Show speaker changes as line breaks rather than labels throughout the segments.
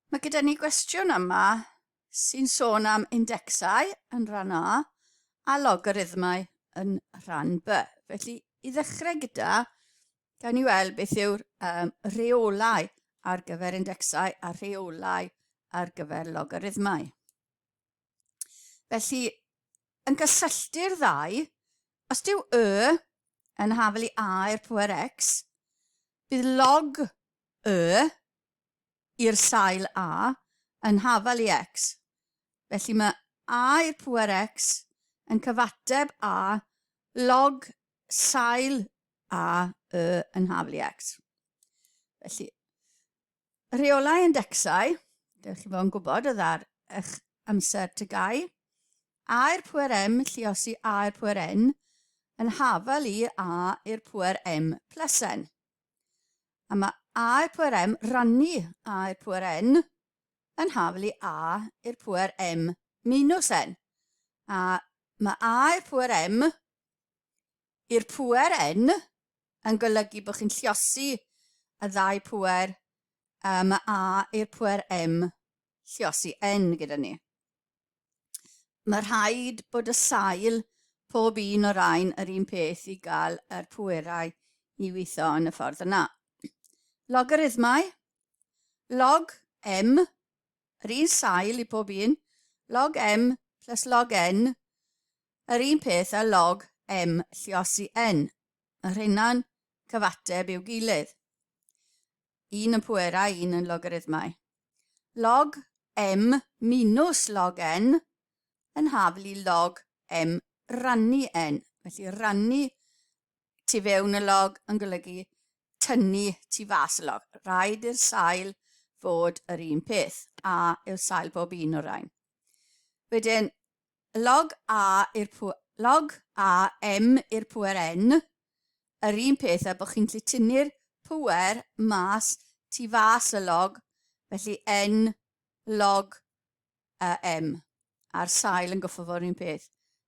Mae gyda ni gwestiwn yma sy'n sôn am indecsau yn rhan A a logarithmau yn rhan B. Felly, i ddechrau gyda, gawn ni weld beth yw'r um, reolau ar gyfer indecsau a rheolau ar gyfer logarithmau. Felly, yn gysylltu'r ddau, os dyw y yn hafel i a i'r pŵer x, bydd log y i'r sail a yn hafel i x. Felly mae a i'r pŵer x yn cyfateb a log sail a y yn hafel i x. Felly, Rheolau indecsau, dewch chi fod yn gwybod oedd ar eich amser tygau. A'r pwer M, lliosi A'r pwer N, yn hafal i A i'r pwer M plus N. A mae A'r pwer M rannu A'r pwer N yn hafal i A i'r pwer M minus N. A mae A'r pwer M i'r pŵer yn, yn golygu bod chi'n lliosi y ddau pŵer um, a i'r pŵer m lliosi n gyda ni. Mae rhaid bod y sail pob un o'r rhain yr un peth i gael yr pwerau i weithio yn y ffordd yna. Logarithmau, log m, yr un sail i pob un, log m plus log n, Yr un peth â log M lluosi N, y rhennau'n cyfateb i'w gilydd. Un yn pwerau, un yn logarithmau. Log M minus log N yn hafl i log M rannu N. Felly rannu tu fewn y log yn golygu tynnu tu fas y log. Rhaid i'r sail fod yr un peth, a yw sail bob un o'r rhain. Wedyn, Log A i'r pŵer, log A M i'r pŵer N, yr un peth a bod chi'n gallu tynnu'r pŵer mas tu fas y log, felly N log a M, a'r sail yn goffo fo'r un peth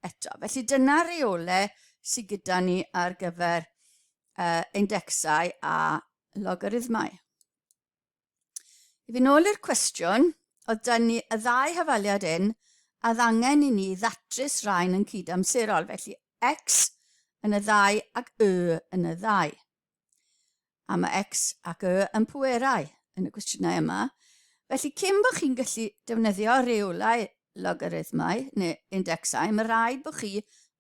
eto. Felly dyna'r reole sydd gyda ni ar gyfer uh, indecsau a logarithmau. I fyn' ôl i'r cwestiwn, oedd da ni y ddau hafaliad un a oedd angen i ni ddatrys rain yn cyd-amserol, felly X yn y ddau ac Y yn y ddau. A mae X ac Y yn pwerau yn y cwestiynau yma, felly cyn bod chi'n gallu defnyddio reulau logarithmau neu indexau, mae rhaid bod chi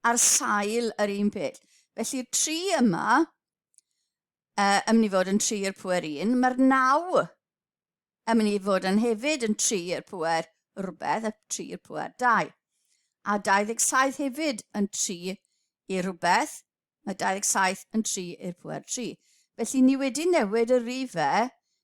ar sail yr un peth. Felly'r tri yma uh, yn mynd i fod yn tri i'r pwer un, mae'r naw yn mynd i fod yn hefyd yn tri i'r pwer rhywbeth a tri i'r pwer dau. A 27 hefyd yn tri i'r rhywbeth, mae 27 yn tri i'r pwer tri. Felly ni wedi newid y rifau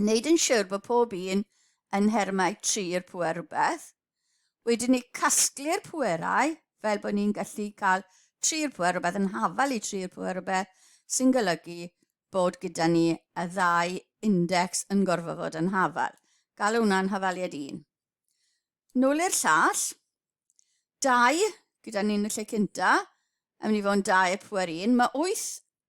wneud yn siwr bod pob un yn nhermau tri'r pwer rhywbeth. Wedyn ni casglu'r pwerau fel bod ni'n gallu cael tri'r pwer rhywbeth yn hafal i tri'r pwer rhywbeth sy'n golygu bod gyda ni y ddau index yn gorfod fod yn hafal. Galw hwnna'n hafaliad un. Nôl i'r llall. Dau, gyda ni'n y lle cynta, yn mynd i fod yn dau y pwer un. Mae wyth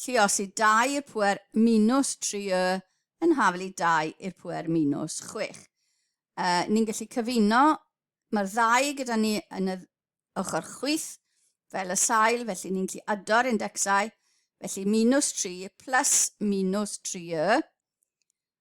lluos i 2 i'r pŵer minws 3 y yn hafel i 2 i'r pŵer minws 6. Uh, ni'n gallu cyfuno, mae'r ddau gyda ni yn y ochr chwith fel y sail, felly ni'n gallu ado'r indexau, felly minws 3 plus minws 3 y,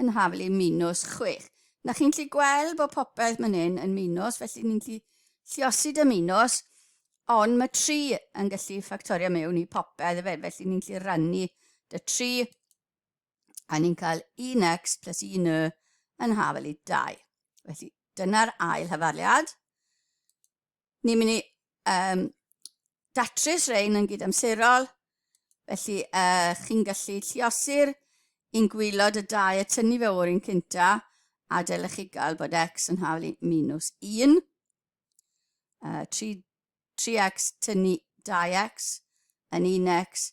yn hafel i minws chwech. Na chi'n gallu gweld bod popeth man hyn yn minws, felly ni'n gallu lliosi dy minws, ond mae tri yn gallu ffactorio mewn i popeth efe, felly ni'n gallu rannu dy tri, a ni'n cael 1x plus 1y yn hafel i 2. Felly dyna'r ail hyfarliad. ni'n mynd i um, datrys rein yn gydamserol, felly uh, chi'n gallu lliosi'r un gwylod y dau a tynnu fe o'r un cynta, a dylech chi gael bod x yn haflu minus 1. Uh, 3, 3x tynnu 2x yn 1x,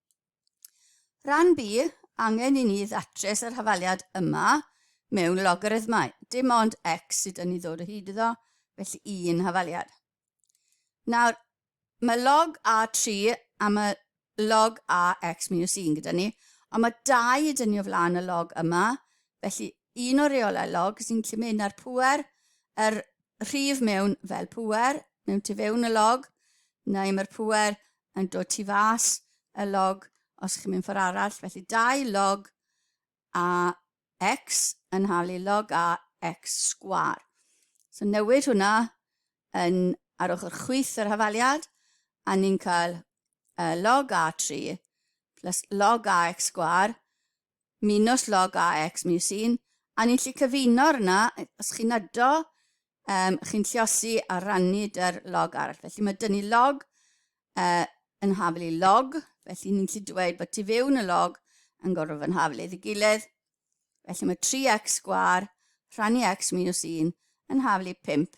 Rhan B, angen i ni ddatrys yr hafaliad yma mewn logarithmau. Dim ond x sydd yn ei ddod o hyd iddo, felly un hafaliad. Nawr, mae log A3 a mae log AX minus 1 gyda ni, ond mae 2 yn dynnu o flaen y log yma, felly un o'r reolau log sy'n lle mynd ar pwer, yr rhif mewn fel pwer, mewn tu fewn y log, neu mae'r pwer yn dod tu fas y log os chi'n mynd ffordd arall. Felly 2 log a x yn halu log a x sgwar. So newid hwnna yn ar ochr chwyth yr hafaliad a ni'n cael uh, log a 3 plus log a x sgwar minws log AX Museum a ni'n lli cyfuno arna, os chi'n ydo, um, chi'n lliosi a rannu dy'r log arall. Felly mae dynnu log uh, yn hafel i log, felly ni'n lli dweud bod tu fewn y log yn gorfod fy nhafel ei gilydd. Felly mae 3x sgwar rhannu x minus 1 yn hafel i 5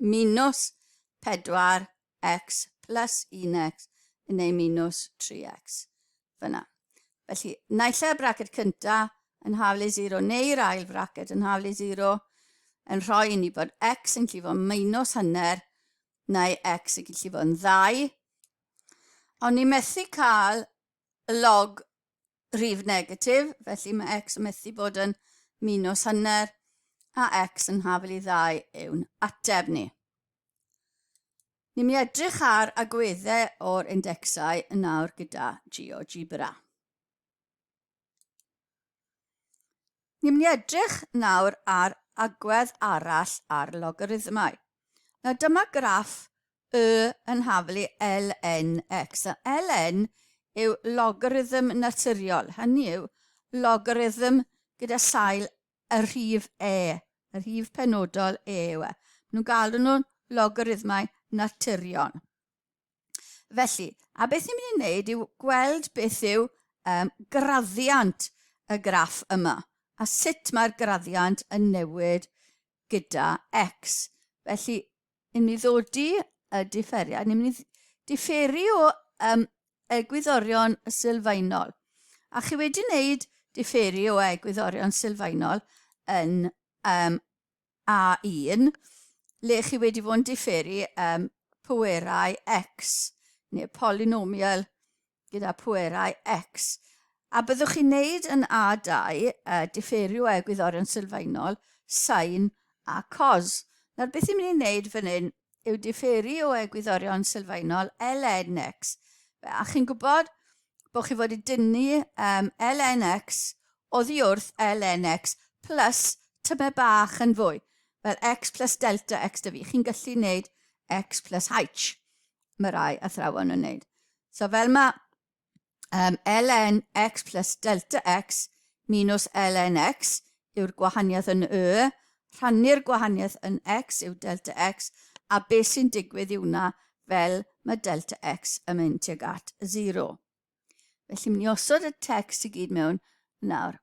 minws 4x plus 1x yn ei minws 3x. Fyna. Felly, naill y braced cynta yn haflu 0 neu'r ail fraced yn haflu 0 yn rhoi i ni bod x yn gallu fod minws hanner neu x yn gallu fod yn ddau. Ond ni methu cael y log rif negatif, felly mae x yn methu bod yn minus hanner, a x yn hafel i ddau yw'n ateb ni. Ni'n mynd i edrych ar agweddau o'r indexau yn awr gyda GeoGebra. Ni'n mynd i edrych nawr ar agwedd arall ar logarithmau. Nawr dyma graff y yn haflu ln x. Nawr ln yw logarithm naturiol, hynny yw logarithm gyda sail y rhif e, y rhif penodol e yw e. Maen nhw'n galw nhw'n logarithmau naturiol. Felly, a beth ni'n mynd i wneud yw gweld beth yw um, graddiant y graff yma a sut mae'r graddiant yn newid gyda x. Felly, ni'n mynd i ddodi y differiad, ni'n mynd i differi o um, egwyddorion sylfaenol. A chi wedi wneud differi o egwyddorion sylfaenol yn um, A1, lle chi wedi fod yn diferu um, pwerau x, neu polinomial gyda pwerau x. A byddwch chi'n neud yn A2, uh, diferu o egwyddorion sylfaenol, sain a cos. Nawr, beth i'n mynd i'n neud fan hyn, yw diferu o egwyddorion sylfaenol LNX. A chi'n gwybod bod chi fod i dynnu um, LNX oddi wrth LNX plus tyme bach yn fwy, fel X plus delta X dy fi. Chi'n gallu wneud X plus H. Mae rai athrawon yn wneud. So fel mae Um, ln x plus delta x minus ln x yw'r gwahaniaeth yn y, rhannu'r gwahaniaeth yn x yw delta x, a beth sy'n digwydd yw wna fel mae delta x yn mynd tuag at 0. Felly, mynd i osod y text i gyd mewn nawr.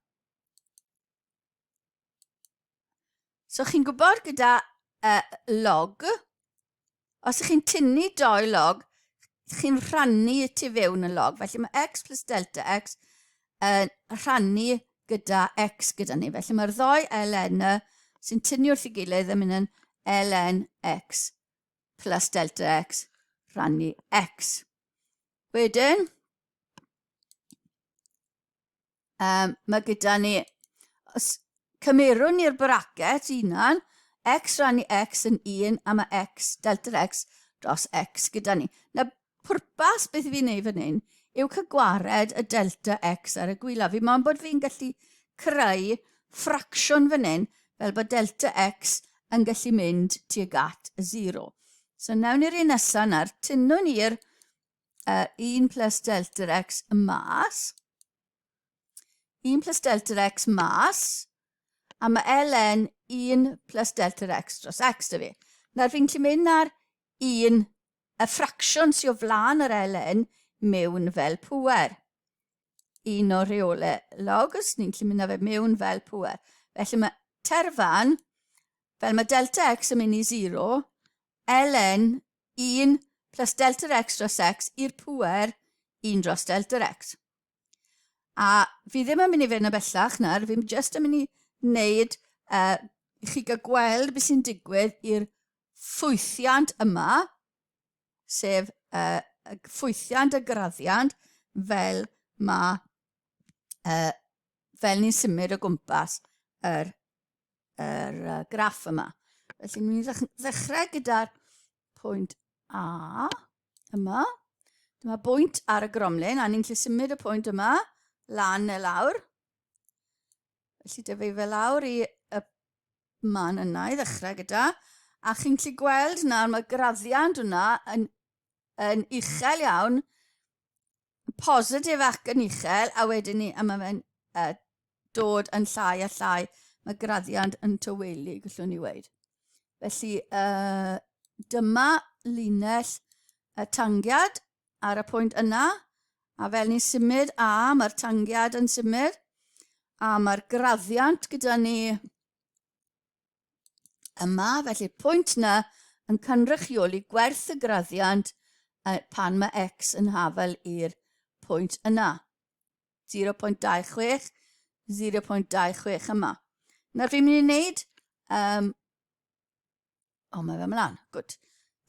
So chi'n gwybod gyda uh, log, os ych chi'n tynnu doi log, chi'n rhannu y tu fewn y log. Felly mae x plus delta x yn uh, rhannu gyda x gyda ni. Felly mae'r ddoi ln sy'n tynnu wrth i gilydd yn mynd yn ln x plus delta x rhannu x. Wedyn, Um, mae gyda ni, os cymerwn ni'r bracket unan, x rannu x yn 1 a mae x, delta x dros x gyda ni. Na pwrpas beth i fi'n neud fan hyn yw cygwared y delta x ar y gwylaf. Fi mo'n bod fi'n gallu creu ffracsiwn fan hyn fel bod delta x yn gallu mynd tuag at y 0. So nawn ni'r un nesaf na'r tynwn i'r uh, 1 plus delta x mas, 1 plus delta x mas, a mae ln 1 plus delta x dros x da fi. Nawr fi'n gallu mynd ar un y ffracsiwn sy'n o flaen yr ln mewn fel pwer. Un o reole logs, ni'n gallu mynd â fe mewn fel pwer. Felly mae terfan, fel mae delta x yn mynd i 0, ln 1 plus delta x dros x i'r pwer 1 dros delta x. A fi ddim yn mynd i fynd yn bellach nawr, fi'n just yn mynd i wneud uh, i chi gael gweld beth sy'n digwydd i'r ffwythiant yma, sef uh, y ffwythiant y graddiant fel mae uh, fel ni'n symud o gwmpas yr yr uh, graff yma. Felly, ni'n ddechrau gyda'r pwynt A yma. Dyma bwynt ar y gromlin, a ni'n lle symud y pwynt yma lan neu lawr. Felly, dyfu fe lawr i y man yna i ddechrau gyda. A chi'n lle gweld nawr, mae graddiant yna yn yn uchel iawn, positif ac yn uchel, a wedyn ni, a mae fe'n uh, dod yn llai a llai, mae graddiant yn tywelu, gyllwn ni weid. Felly, uh, dyma linell y tangiad ar y pwynt yna, a fel ni'n symud, a mae'r tangiad yn symud, a mae'r graddiant gyda ni Yma, felly'r pwynt yna yn cynrychioli gwerth y graddiant pan mae x yn hafel i'r pwynt yna. 0.26, 0.26 yma. Nawr fi'n mynd i wneud... Um, o, oh, mae fe mlaen. Gwyd.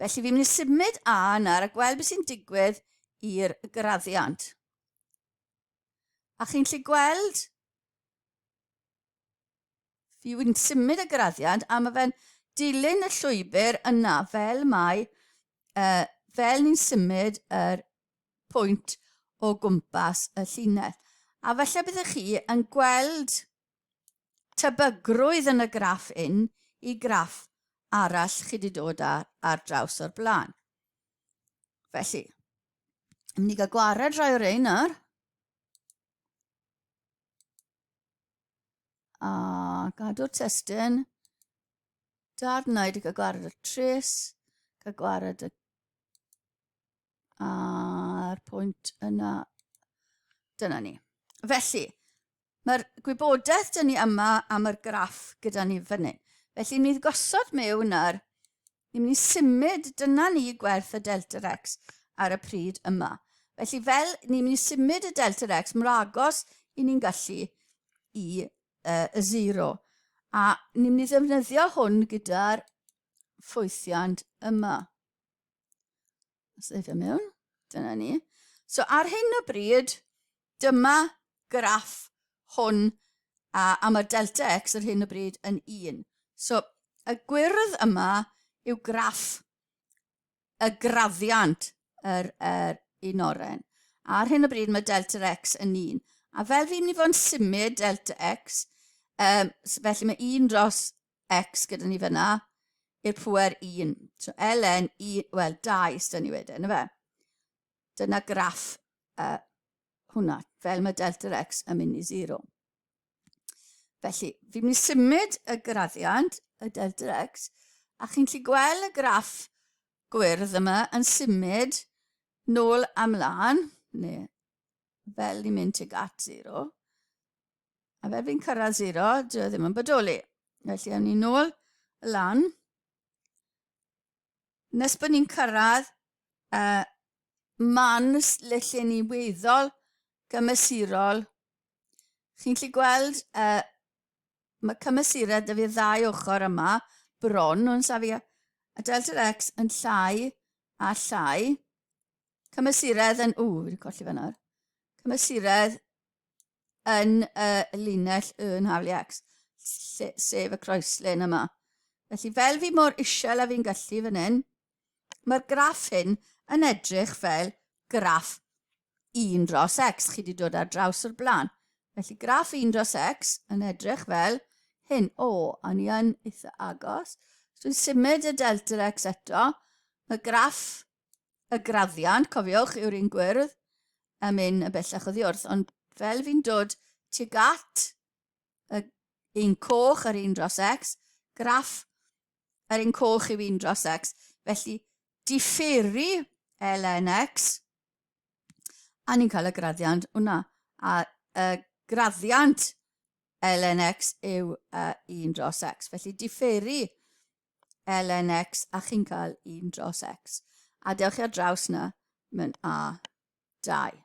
Felly fi'n mynd i symud A yna a gweld beth sy'n digwydd i'r graddiant. A chi'n lle gweld Fi yn symud y graddiant a mae fe'n dilyn y llwybr yna fel mae, uh, fel ni'n symud yr pwynt o gwmpas y llinell. A felly byddwch chi yn gweld tebygrwydd yn y graff un i graff arall chi wedi dod ar, ar draws o'r blaen. Felly, yn mynd i gael gwared rhai o'r ein nawr. A gadw'r testyn. Darnau wedi cael gwared y tris. Cael gwared y... A'r pwynt yna. Dyna ni. Felly, mae'r gwybodaeth dyn ni yma am yr graff gyda ni fan hyn. Felly, ni'n gosod mewn ar Ni'n mynd i symud, dyna ni gwerth y delta x ar y pryd yma. Felly fel ni'n mynd i symud y delta x mor agos i ni'n gallu i uh, y zero. A ni'n mynd i ddefnyddio hwn gyda'r ffwythiant yma. Seifio mewn. Dyna ni. So ar hyn o bryd, dyma graff hwn a, a mae delta x ar hyn o bryd yn 1. So y gwyrdd yma yw graff y graddiant yr, yr un oren. A ar hyn o bryd mae delta x yn 1. A fel fi'n mynd i fod yn symud delta x, um, felly mae 1 dros x gyda ni fyna, i'r pwer 1. So ln 1, wel 2 ysda ni wedyn, fe? Dyna graff uh, hwnna, fel mae delta x yn mynd i 0. Felly, fi'n mynd i symud y graddiant, y delta x, a chi'n lli gweld y graff gwyrdd yma yn symud nôl amlaen, neu fel ni'n mynd tuag at 0, A fel fi'n cyrraedd zero, dwi e ddim yn bodoli. Felly, awn ni'n ôl y lan. Nes bod ni'n cyrraedd uh, man le lle ni weddol gymesurol, chi'n lli gweld uh, mae cymesurau dy fi ddau ochr yma, bron nhw'n safio, a delta x yn llai a llai. Cymesuredd yn... Ww, wedi colli fe nawr. Cymesuredd yn y linell y yn Haliacs, lle, sef y croeslen yma. Felly fel fi mor isel a fi'n gallu fan hyn, mae'r graff hyn yn edrych fel graff 1 dros x. Chi wedi dod ar draws o'r blaen. Felly graff 1 dros x yn edrych fel hyn. O, a ni yn eitha agos. Dwi'n symud y delta x eto. Mae graff y graddiant, cofiwch, yw'r un gwyrdd yn mynd yn bellach o ddiwrth, ond fel fi'n dod tuag at y un coch ar un dros x, graff ar un coch yw un dros x. Felly, differu ln x, a ni'n cael y graddiant hwnna. A y graddiant ln x yw uh, 1 dros x. Felly, differu ln x a chi'n cael 1 dros x. A dewch ar draws na, mae'n a 2.